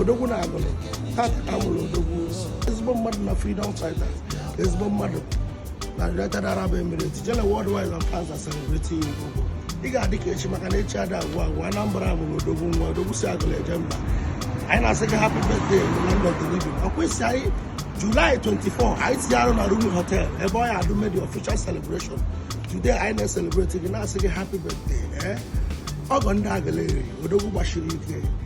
odogwu na agụlụ tata ka a mụrụ odogwu ezigbo mmadụ na freedom fighters ezigbo mmadụ na united arab emirates ijele worldwide and fans are celebrating odogwu ị ga-adị ka echi maka na echi ada agwụ agwụ anambra mụrụ odogwu nwa odogwu si agụlụ eje mba anyị na-asị gị happy birthday in the land of the living ọ kwesị anyị July 24 anyị tinye arụ na Rumi Hotel ebe ọ ya adụ me the official celebration today anyị na-ecelebrate gị na-asị gị happy birthday ee ọgọ ndị agụleri odogwu gbasiri ike